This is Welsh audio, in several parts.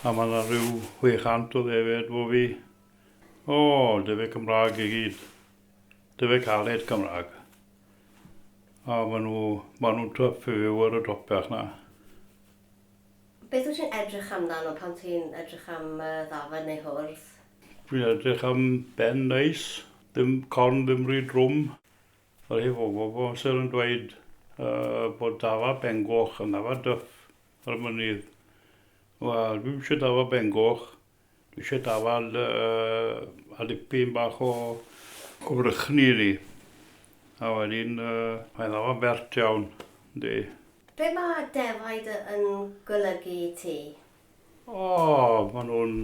A mae yna rhyw 600 o ddefed 'fo fi. O, defaid Cymraeg i gyd. Defaid caled Cymraeg. A maen nhw, maen nhw'n twff i fyw ar y dopell 'na. Beth wyt ti'n edrych amdano pan ti'n edrych am ddafad neu hwrdd? Dwi'n edrych am ben neis, ddim corn ddim rhy drwm. Mae rhai bobl bob amser yn dweud bod dafad bengoch yn dafad dyff. Yr mynydd. Wel, dwi'm isio dafad bengoch. Dwi isio dafad uh, a dipyn bach o, o frychni i ni. A wedyn, uh, mae'n ddafad bert iawn, yndi. Be mae defaid yn golygu i ti? O, maen nhw'n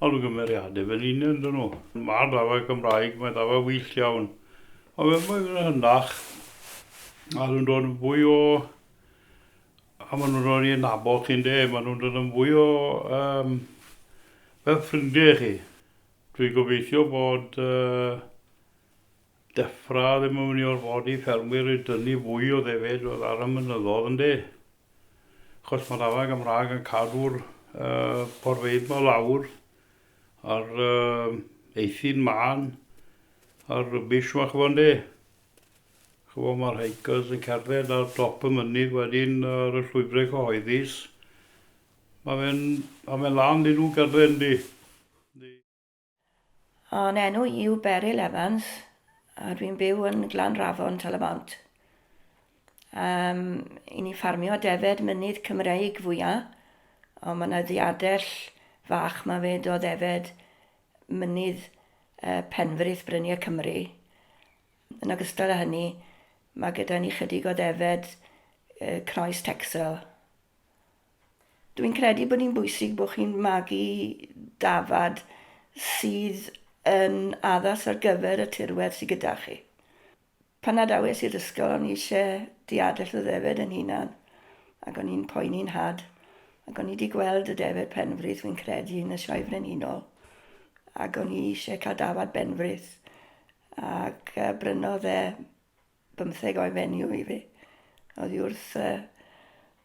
olygymeriadau fy ni'n yn dyn nhw. Mae'r dafad Cymraeg, mae dafad wyllt iawn. Ond fe mae'n hynach, a dwi'n dod yn fwy o, A maen nhw'n dod i adnabod chi ynde? Maen nhw'n dod yn fwy o yym fel ffrindiau i chi. Dwi'n gobeithio bod yy Defra ddim yn mynd i orfodi ffermwyr i dynnu fwy o ddefaid fel ar y mynyddoedd ynde? Achos mae'r afael Gymraeg yn cadw'r yy porfeydd ma lawr a'r yy eithin mân a'r rubbish ma ch'bo ynde? Ch'mo' ma'r hikers yn cerdded ar dop y mynydd wedyn ar y llwybre cyhoeddus. Ma' fe'n ma' fe'n lân 'dy nw gytre yndi? Yndi. Fy enw i yw Beryl Evans a dwi'n byw yn Glanrafon, Tal-y-bont. Yym, 'yn ni ffarmio defed mynydd Cymreig fwya, ond ma' 'na ddiadell fach 'ma 'fyd o ddefed Mynydd Penfrith, Bryniau Cymru. Yn ogystal â hynny, mae gyda ni chydig o ddefaid Croes Texel. Dwi'n credu bod hi'n bwysig bod chi'n magu dafad sydd yn addas ar gyfer y tirwedd sydd gyda chi. Pan adawes i'r ysgol o'n i eisiau diadell y ddefaid yn hunan ac o'n i'n poeni'n nhad ac o'n i wedi gweld y defaid penfrith fi'n credu yn y Sioe Frenhinol ac o'n i eisiau cael dafad benfrith ac uh, brynodd e bymtheg o'i fenyw i fi. Oedd i wrth uh,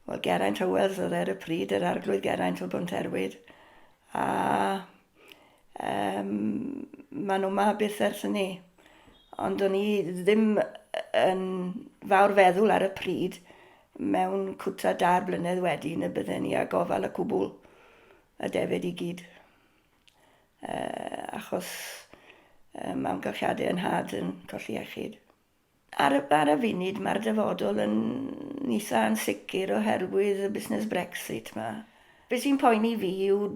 wel, Geraint Hywels oedd e ar y pryd, yr arglwydd Geraint o Bwnt Erwyd a Um, maen nhw ma byth ers ni. Ond o'n i ddim yn fawr feddwl ar y pryd mewn cwta dair blynedd wedi na bydden ni a gofal y cwbl y defyd i gyd. Uh, achos um, amgylchiadau yn had yn colli iechyd. Ar y, ar y funud, mae'r dyfodol yn eitha ansicr oherwydd y busnes Brexit 'ma. Be sy'n poeni fi yw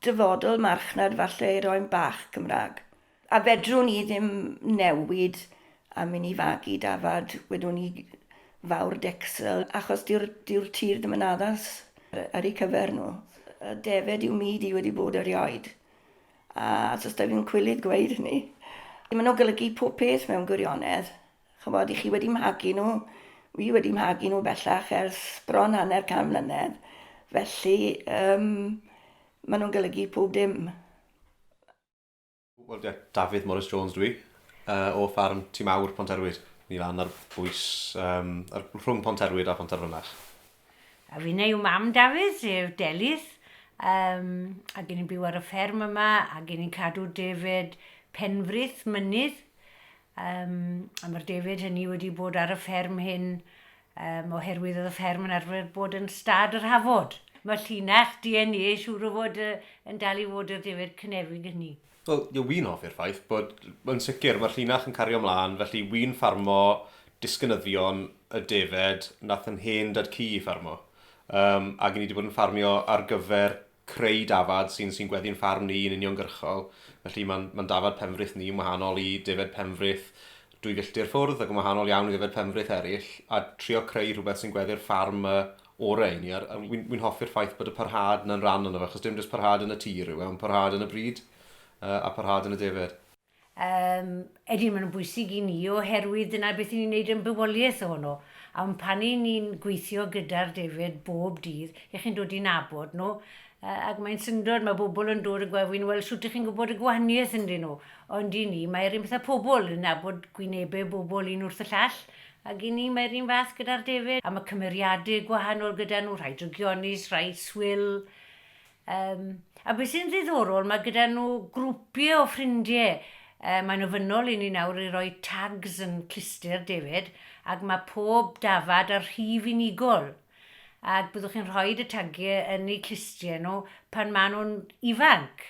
dyfodol marchnad falle i roi'n bach Cymraeg. A fedrwn ni ddim newid a myn' i fagu dafad, wedwn ni fawr decsel, achos dyw'r, dyw'r tir ddim yn addas ar eu cyfer nhw. Y defaid yw mi di wedi bod erioed. A os da fi'n cwilydd gweud hynny, maen nhw'n golygu pob peth mewn gwirionedd. Chymod, i chi wedi mhagu nhw, fi wedi mhagu nhw bellach ers bron hanner can mlynedd. Felly, um, maen nhw'n golygu pob dim. Wel, yeah, Dafydd Morris Jones dwi, uh, o ffarm Tîm Awr Pont Erwyd. Ni lan ar bwys um, ar, rhwng Pont Erwyd a Pont Erfynach. A finne yw mam Dafydd, sef Delyth, um, ac ni'n byw ar y fferm yma, ac ni'n cadw defed penfrith mynydd, um, a mae'r defed hynny wedi bod ar y fferm hyn um, oherwydd oedd y fferm yn arfer bod yn stad yr hafod. Mae llinach DNA siŵr o fod yn dal i fod yr defed cynefig hynny. Wel, ie, wi'n hoffi'r ffaith bod, yn sicr, mae'r llinach yn cario 'mlaen, felly wi'n ffarmo disgynyddion y defaid nath yn hen dad-cu i ffarmo. Yym, ac i ni wedi bod yn ffarmio ar gyfer creu dafad sy'n sy'n gweddu'n ffarm ni yn uniongyrchol, felly mae'n mae'n dafad Penfrith ni yn wahanol i defaid Penfrith dwy filltir ffwrdd ac yn wahanol iawn i ddefaid Penfrith eraill, a trio creu rhywbeth sy'n gweddu'r ffarm 'ma orau i ni, a wi'n hoffi'r ffaith bod y parhad 'na'n rhan ono fe, achos dim jyst parhad yn y tir yw e, ond parhad yn y bryd, a parhad yn y defaid. Yym, ydyn, maen nhw'n bwysig i ni, oherwydd dyna beth 'yn ni'n neud yn bywoliaeth ohono, a wn pan 'yn ni'n gweithio gyda'r defaid bob dydd, 'ych chi'n dod i nabod nhw, yy ac mae'n syndod, ma' bobl yn dod yn gwe- wi'n weld shwt 'ych chi'n gwbod y gwahaniaeth ynddyn nhw, ond i ni, mae yr un peth â pobl, yn nabod gwynebe bobl un wrth y llall, Ac i ni mae'r un fath gyda'r defaid, a mae cymeriadau gwahanol gyda nhw, rhai drygionus, rhai swil. Um, a beth sy'n ddiddorol, mae gyda nhw grwpiau o ffrindiau. Uh, mae'n ofynnol i ni nawr i roi tags yn cluster defaid, ac mae pob dafad ar rhif unigol ac byddwch chi'n rhoi y tagiau yn eu clustiau nhw pan maen nhw'n ifanc.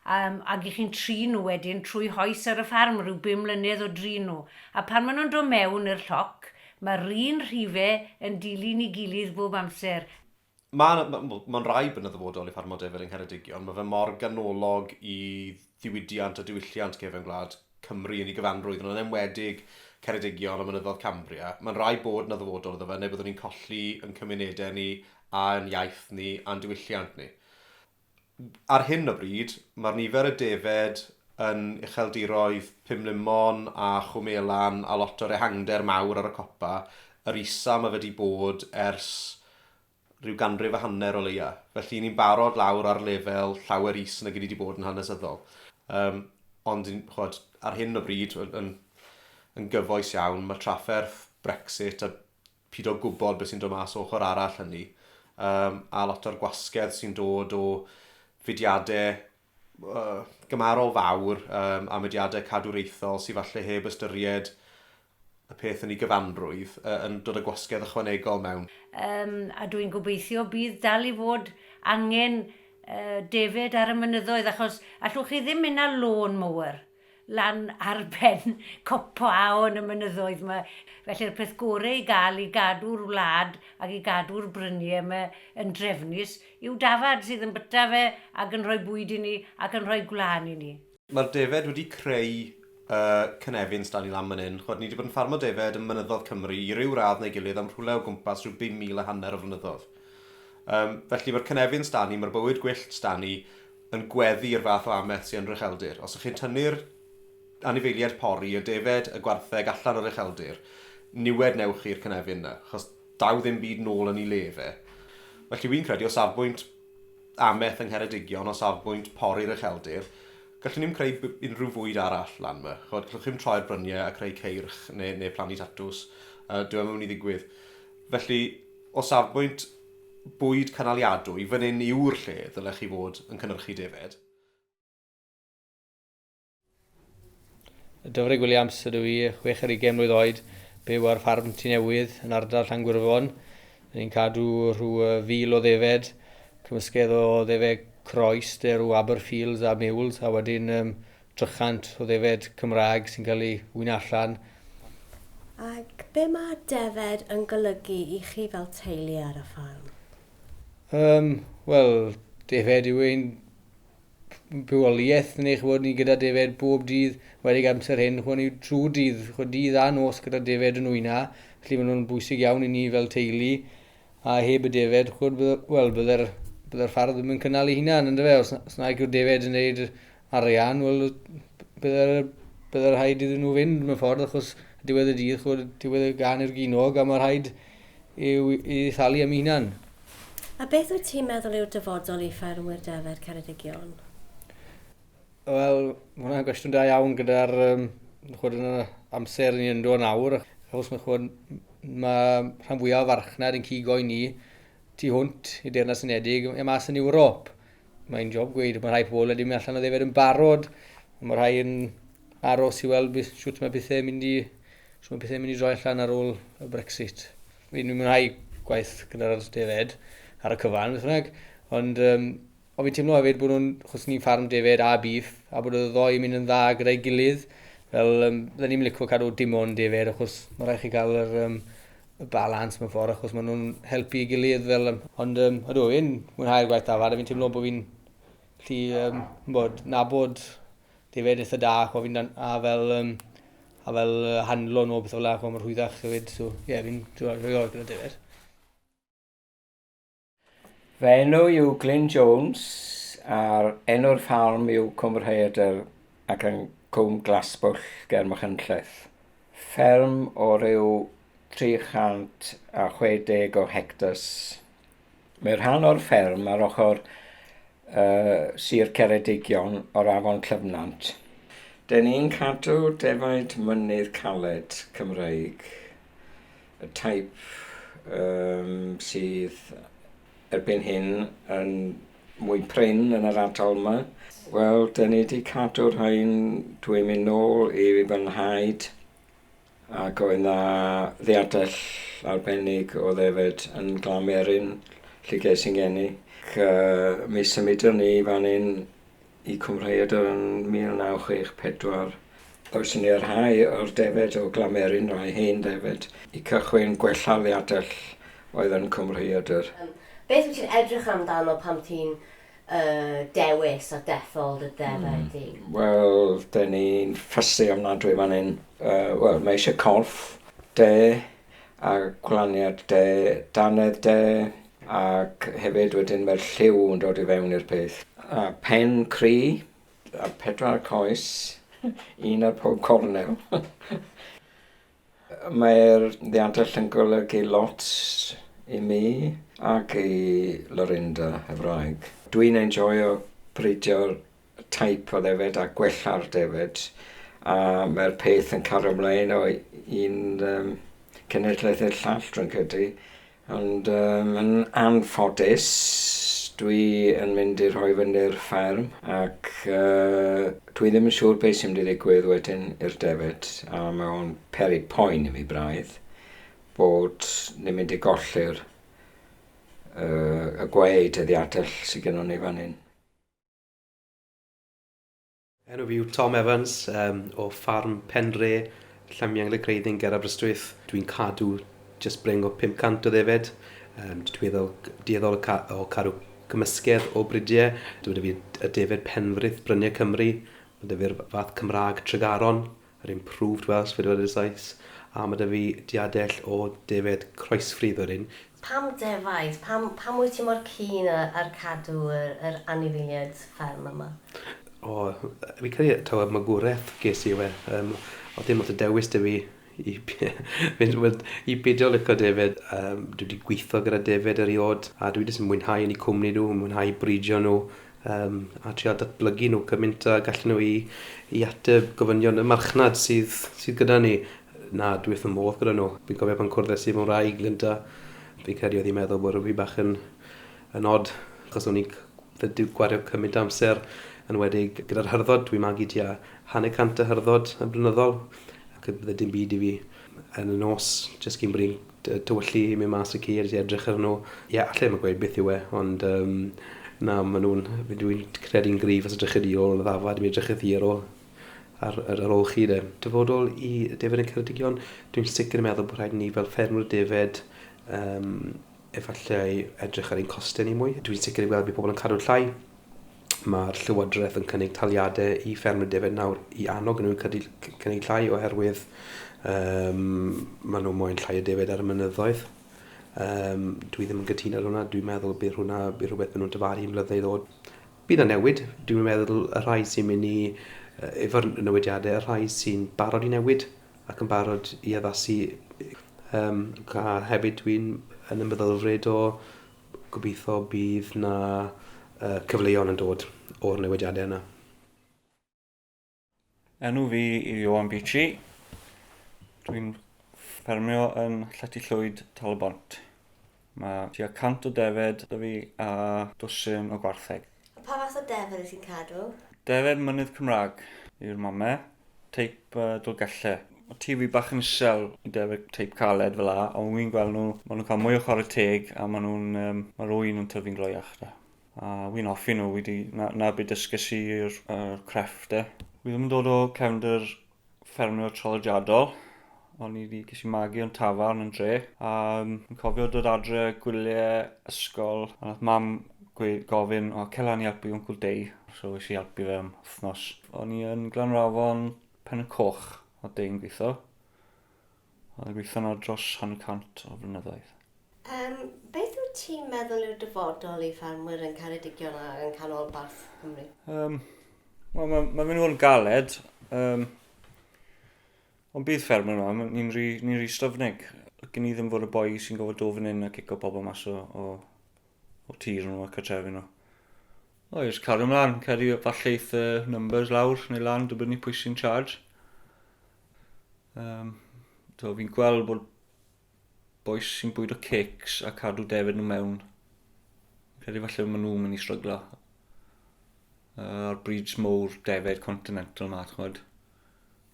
Yym, ag i chi'n trin nhw wedyn trwy hoes ar y ffarm ryw bum mlynedd o drin nhw. A pan maen nhw'n dod mewn i'r lloc, mae'r un rhife yn dilyn ei gilydd bob amser. Mae, wel, mae'n rhaid bod yn ddyfodol i ffarmo defyd yng Ngheredigion. Mae fe mor ganolog i ddiwydiant a diwylliant cefn gwlad Cymru yn ei gyfanrwydd, ond yn enwedig Ceredigion a mynyddodd Cambria. Mae'n rhaid bod yna ddyfodol iddo fe, neu byddwn ni'n colli yn cymunedau ni, a'n iaith ni, a'n diwylliant ni. Ar hyn o bryd, mae'r nifer y defaid yn ucheldiroedd Pumlumon a Chwm Elan a lot o'r ehangder mawr ar y copa yr isa mae wedi bod ers rhyw ganrif a hanner o leia. Felly, 'yn ni'n barod lawr ar lefel llawer is nag 'yn ni wedi bod yn hanesyddol. Yym, ond, ch'mod, ar hyn o bryd, yn yn yn gyfoes iawn, mae trafferth Brexit a Pido â gwybod beth sy'n dod mas o ochr arall hynny. Yym, a lot o'r gwasgedd sy'n dod o fudiadau uh, gymarol fawr um, a mudiadau cadwraethol sydd falle heb ystyried y peth yn ei gyfanrwydd uh, yn dod â gwasgedd ychwanegol mewn. Um, a dwi'n gobeithio bydd dal i fod angen uh, defyd ar y mynyddoedd achos allwch chi ddim mynd â lôn mowr. lan ar ben copa a yn y mynyddoedd 'ma. Felly'r peth gore i gael i gadw'r wlad ac i gadw'r brynie 'ma yn drefnus yw dafad sydd yn byta fe ac yn rhoi bwyd i ni ac yn rhoi gwlân i ni. Mae'r defaid wedi creu y cynefin s'da ni lan man 'yn. Ch'mod, ni 'di bod yn ffarmo defaid ym mynyddodd Cymru i ryw radd neu gilydd am rhwle o gwmpas rhyw bum mil a hanner o flynyddodd. Yym, felly, mae'r cynefin s'da ni, mae'r bywyd gwyllt s'da ni, yn gweddu i'r fath o amet sy yn rycheldir. Os ych chi'n tynnu'r anifeiliaid pori, y defaid, y gwartheg allan o'r ucheldir, niwed newch chi'r cynefin 'na, achos daw ddim byd nôl yn 'i le fe. Felly wi'n credu o safbwynt amet yng Ngheredigion, o safbwynt pori'r ucheldir, gallwn ni'm creu unrhyw fwyd arall lan 'ma. Ch'od, gallwch chi'm troi'r bryniau a creu ceirch neu neu plannu tatws. Yy dyw e 'im yn mynd i ddigwydd. Felly, o safbwynt bwyd cynaliadwy, fan hyn yw'r lle ddylech chi fod yn cynyrchu defaid. Dyfrig Williams ydw i, chwech ar ugain mlwydd oed, byw ar ffarm Tŷ Newydd yn ardal Llangwirfon. Rydyn ni'n cadw rhyw fil o ddefed, cymysgedd o ddefed croes, derw, Aberfields a Mules, a wedyn um, 300 o ddefaid Cymraeg sy'n cael eu wyno allan. Ac be mae defaid yn golygu i chi fel teulu ar y ffarm? Yym, wel, defaid yw ein bywoliaeth ni, ch'mod, ni gyda defaid bob dydd, enwedig amser hyn, ch'mod, ni trwy dydd, ch'mod, dydd a nos gyda defaid yn wyna, felly maen nhw'n bwysig iawn i ni fel teulu, a heb y defaid, ch'mod, wel, bydde'r bydde'r ffarm ddim yn cynnal ei hunan, yndyfe, os, os na yw'r defaid yn gwneud arian, wel, bydde bydde rhaid iddyn nhw fynd mewn ffordd, achos diwedd y dydd, chwbod, diwedd y gan i'r ginog, a mae rhaid i'w, i thalu am ei hunan. A beth wyt ti'n meddwl yw'r dyfodol i ffermwyr defaid Ceredigion? Wel, mae hwnna'n gwestiwn da iawn gyda'r um, chwod yn yr amser ni'n yndo nawr, achos mae, chwod, mae rhan fwyaf o farchnad yn cigo i ni tu hwnt i Deyrnas Unedig, e mas yn Ewrop. Mae'n job gweud, mae rhai pobl wedi mynd allan o ddefod yn barod, mae rhai yn aros i weld sut mae pethau yn mynd i, sut mae pethau yn mynd i droi allan ar ôl y Brexit. Fi'n mynd rhai gwaith gyda'r defod ar y cyfan, beth bynnag, ond um, o fi'n teimlo hefyd bod nhw'n, chos ni'n ffarm defod a bif, a bod y ddoi yn mynd yn dda gyda'i gilydd, fel, um, dda ni'n licio cadw dim ond defod, achos mae rhaid chi cael yr, um, y balans mewn ffordd achos maen nhw'n helpu i gilydd fel... Yym, ond um, ydw, fi'n mwynhau'r gwaith dafad a fi'n teimlo bod fi'n lli um, bod, nabod defaid eitha da chwa, fi'n, a fel, um, a fel uh, handlo nhw o beth o la, chwa, mae'n rhwyddach hefyd, so ie, yeah, fi'n rhoi o'r gyda defaid. Fy enw yw Glyn Jones a'r enw'r ffarm yw Cwm Rhaeadr ac yn Cwm Glasbwll ger Machynlleth. Fferm o ryw 360 o hectars. Mae rhan o'r fferm ar ochr uh, Sir Ceredigion o'r afon Clyfnant. Dyn ni'n cadw defaid mynydd caled Cymreig. y teip sydd erbyn hyn yn mwy prin yn yr ardal yma. Wel, da ni wedi cadw rhain, dwi'n mynd nôl i fy nhaid, ac oedd na ddiadell arbennig o ddefed yn Glamerin, lle ges i'n geni. Ac, uh, mi symudon ni fan hyn Y Cymraeadr yn 1964. Oes yn iarhau o'r defaid o Glamerin rai hen ddefaid. Y cychwyn gwella liadell oedd yn Cymraeadr. Beth wyt ti'n edrych amdano pan ti'n dewis a dethol dy ddefaid di? Wel, dyn ni'n fussy ofnadwy fan hyn. Wel, mae eisiau corff, de. a gwlaniad de, dannedd de, ac hefyd wedyn mae'r lliw yn dod i fewn i'r peth. A pen cri, a pedwar coes, un ar pob cornel. Mae'r ddiantell yn golygu lot i mi ac i Lorinda, y wraig. Dwi'n enjoio bridio teip o ddefed a gwella'r defed a mae'r peth yn cario ymlaen o un um, cenedlaeth i'r llall dwi'n credu ond um, yn anffodus dwi yn mynd i rhoi fyny'r fferm ac uh, dwi ddim yn siŵr beth sy'n mynd i ddigwydd wedyn i'r defed a mae o'n peri poen i mi braidd bod ni'n mynd i golli'r uh, y gwaed y ddiadell sydd gennym ni fan hyn. Enw fi yw Tom Evans um, o ffarm Penre, Llamiencl y Creiddyn ger Aberystwyth. Dwi'n cadw just breng o 500 o ddefed. Um, dwi'n dueddol, dueddol o, ca o cadw cymysgedd o bridiau. Dwi'n fi y defed penfrith bryniau Cymru. Mae dy fi'r fath Cymraeg Tregaron. Yr Improved Welsh Fideo Editors Sites, a ma' 'da fi diadell o defaid croesfridd o ryn. Pam defaid? Pam, pam wyt ti mor keen a, ar cadw yr, yr anifeiliaid fferm yma? O, fi'n credu taw y magwraeth ges i yw e. Yym, o'dd dim lot o dewis 'da fi i fynd, wel, i beidio lico defaid. Yym, dwi 'di gwitho gyda defaid eriôd, a dwi jyst yn mwynhau yn 'u cwmni nhw, yn mwynhau bridio nhw, Yym, a trial datblygu nhw cymint a gallu nhw i i ateb gofynion y marchnad sydd sydd gyda ni. Na, dwi wrth fy modd gyda nhw. Fi'n cofio pan cwrddais i mewn wraig, Linda, fi'n credu oedd hi'n meddwl bod fi bach yn yn od, achos o'n i'n c- fe- di- gwario cymint o amser, enwedig gyda'r hyrddod, dwi'n magu tua hanner cant o hyrddod yn blynyddol, ac bydde dim byd i fi yn y nos, jyst cyn bod i'n Dy- tywyllu i mynd mas y ceir i edrych ar nhw. Ie allai ddim yn gweud beth yw e ond um, na maen nhw'n... Dwi'n credu'n gryf os ydych chi ôl yn y ddafad mi edrychwch chi ar ôl ar, ar, ar ôl chi de. Dyfodol i defed y Ceredigion, dwi'n sicr yn meddwl bod rhaid ni fel ffermwyr defed um, efallai edrych ar ein costau ni mwy. Dwi'n sicr yn gweld bod pobl yn cadw llai Mae'r Llywodraeth yn cynnig taliadau i ffermwyr defaid nawr i annog nhw i cynnig llai oherwydd um, maen nhw moyn llai o defaid ar y mynyddoedd. Um, dwi ddim yn gytuno ar hwnna, dwi'n meddwl bydd hwnna bydd rhywbeth maen nhw'n dyfaru yn mlynedd ddod. Bydd y newid, dwi'n meddwl y rhai sy'n mynd i uh, efo'r newidiadau, y rhai sy'n barod i newid ac yn barod i addasu. Um, a hefyd dwi'n yn ymwyddelfryd o Gobeithio bydd 'na cyfleon yn dod o'r newidiadau yna. Enw fi yw Ioan Beachy. Dwi'n ffermio yn Llety Llwyd, Tal-y-bont. Mae tua 100 o defed 'da fi a dwsin o gwartheg. A pa fath o defr wyt ti'n cadw? Defr mynydd Cymraeg yw'r mame, teip uh, Dolgelle. Mae TV bach yn isel i defr teip caled fel la, ond wy'n gweld nhw, maen nhw'n cael mwy o chwarae teg a maen nhw'n, um, mae'r wy'n yn tyfu'n gloiach da. A wy'n hoffi nhw, wedi, na, na byd dysges i'r uh, crefft e. Wy ddim yn dod o cefnder ffermio traddodiadol. O'n i wedi ges i magu o'n tafarn yn dre. A um, yn cofio dod adre gwyliau ysgol. A nath mam gweud, gofyn, o, cela ni helpu Uncle Dei. So eisiau i helpu fe am wythnos. O'n i yn Glanrafon Pen y Coch, o Dei'n gweithio. Oedd yn gweithio yno dros hanner cant o flynyddoedd. Yym, beth wyt ti'n meddwl yw'r dyfodol i ffermwyr yn Ceredigion a yng Nghanolbarth Cymru? Yym, wel, mae, mae mynd i fod yn galed. Yym, ond bydd ffermwyr yma, ma- ni'n rhy, ni'n rhy styfnig. Gyn ni ddim fod y boi sy'n gofod dod fan hyn a cico pobl mas o, o, o tir nhw a cartrefi nhw. O, jyst cario ymlaen, cario falle eith y numbers lawr neu lan, dibynnu pwy sy'n charge. Um, so fi'n gweld bod boes sy'n bwyd o cakes a cadw defyd nhw mewn. Credu falle maen nhw'n mynd i stryglo. Uh, a'r breeds mowr defyd continental ma, chwyd.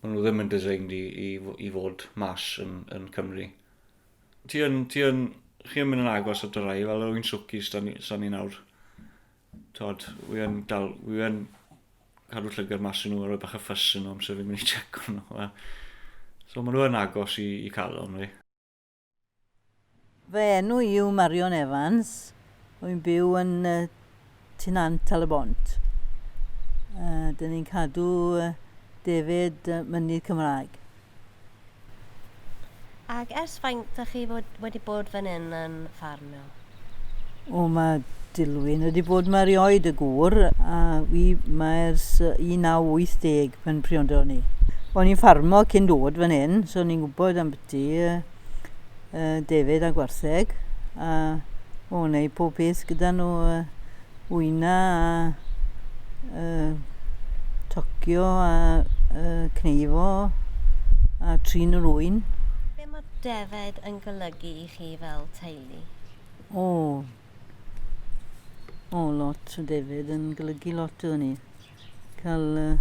Maen nhw ddim yn designed i, i, i fod mas yn, yn Cymru. Ti yn, ti yn, chi yn mynd yn agos at y rai, fel yr un swcis, sa'n ni nawr. Tod, wi yn dal, wi yn cadw llygad mas i nhw a rhoi bach y ffys yn nhw amser fi'n mynd i check o'n nhw. So maen nhw yn agos i, i calon fi. Fy enw i yw Marion Evans, wy'n byw yn uh, Tŷ Nant al y Bont. Uh, Dyn ni'n cadw uh, defaid uh, mynydd Cymraeg. Ac ers faint dych chi fod, wedi bod fan hyn yn ffarmio? O, mae Dilwyn wedi bod mae rioed y gŵr, a fi mae ers 1980 pan priodo ni. O'n i'n ffarmo cyn dod fan hyn, so ni'n gwybod am byti. uh, defaid a gwartheg a o neu pob peth gyda nhw uh, wyna a uh, tocio a uh, cneifo a trin yr wy'n. Be mae defaid yn golygu i chi fel teulu? O, o lot o defaid yn golygu lot o ni. cael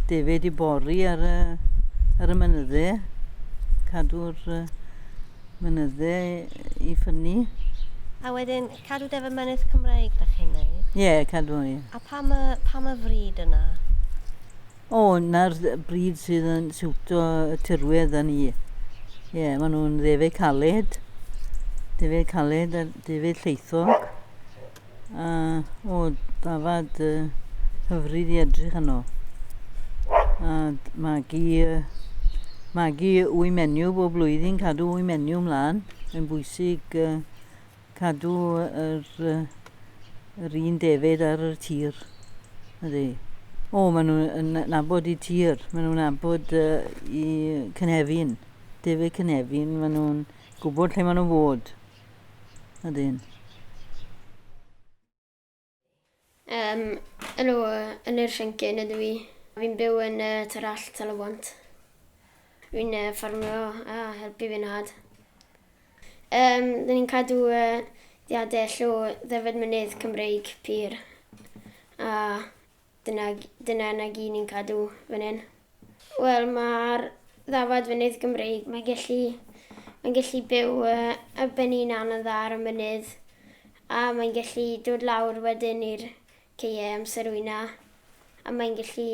defaid i bori ar y, ar y mynydde, cadw'r mynydde i ffynnu. A wedyn, cadw defa mynydd Cymraeg, da chi'n neud? Ie, yeah, cadw, ie. Yeah. A pam y, pam y fryd yna? O, oh, na'r bryd sydd yn siwto y tirwedd a ni. Ie, yeah, maen nhw'n ddefau caled, defau caled a defau lleithog. A, o, dafad uh, hyfryd i edrych yno. A magu, uh, magu wy menyw bob blwyddyn, cadw wy menyw mlaen. Mae'n bwysig uh, cadw yr, uh, yr un defyd ar y tir. Ydy. O, maen nhw'n nabod i tir, maen nhw'n nabod uh, i cynefin. Defyd cynefin, maen nhw'n gwybod lle maen nhw'n fod. Ydyn. Um, yn, o, yn yr rhyngcyn ydw i. Fi'n byw yn uh, Tarall, Talawant. Fi'n uh, ffarmio a helpu fy nhad. Um, Dyn ni'n cadw uh, diadell o ddefaid mynydd Cymreig pur a Dyna dyna na gyd ni'n cadw fan hyn. Wel ma'r ddafad fynydd Gymreig mae'n gallu mae'n gallu byw uh, ar ben ei hunan yn dda ar y mynydd a mae'n gallu dod lawr wedyn i'r ceie amser wyna a mae'n gallu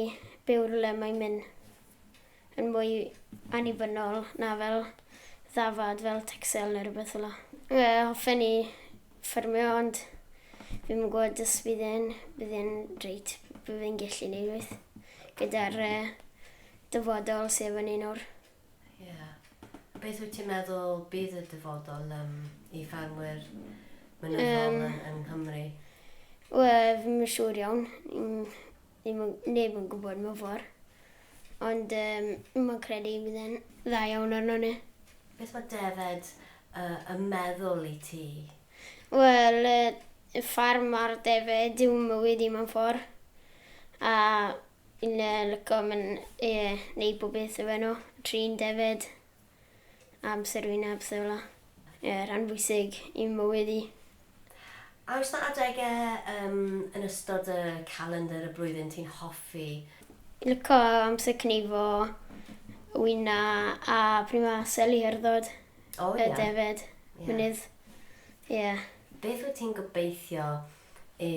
byw rhywle mae'n mynd. yn mwy annibynnol na fel ddafad fel tecsel neu rhywbeth fel yna. Ie, hoffen i ffermio ond fi'm yn gwybod os bydd e'n bydd e'n reit, bydd e'n gallu neud rhywbeth gyda'r uh, dyfodol sydd efo ni nawr. Ie. Yeah. Beth wyt ti'n meddwl bydd y dyfodol um, i ffermwyr mynyddol um, yn, yng Nghymru? Wel, fi'n siŵr iawn. Ddim yn, neb yn gwybod mewn ffordd. Ond yym, mae'n credu bydd e'n dda iawn arno ni. Beth mae defaid y, y meddwl i ti? Wel, y, y ffarm a'r defaid yw mywyd i mewn ffordd. A fi'n yy, lico mynd i yy, wneud bob beth efo nhw. Trin defaid. amser fi'n heb sylw. Ie, rhan bwysig i'm mywyd i. A oes 'na adegau yym yn ystod dy calendr y blwyddyn ti'n hoffi? Lico amser cnifo, wyna a pryd ma' seli herddod. O ie. Y defaid. Ie. Mynydd. Ie. Beth wyt ti'n gobeithio i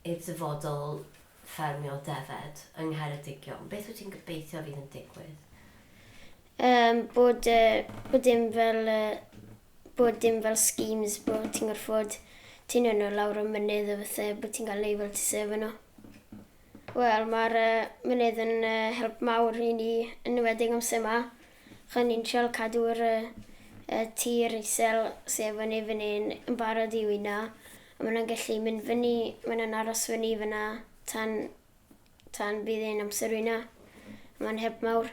i'r dyfodol ffermio defaid yng Ngheredigion? Beth wyt ti'n gobeithio fydd yn digwydd? Um, bod, uh, bod dim fel uh, bod dim fel schemes bod ti'n gorfod ti'n yno lawr y mynydd o fatha bod ti'n cael ei fel ti sef yno. Wel, mae'r uh, mynydd yn uh, help mawr i ni yn ymwedig amser yma. R'yn ni'n trial cadw yr y tir isel sy efo ni fyn 'yn yn barod i wino a ma' nw'n gellu mynd fyny ma' nw'n aros fyny fyn 'na tan tan bydd e'n amser wino. Ma'n help mawr.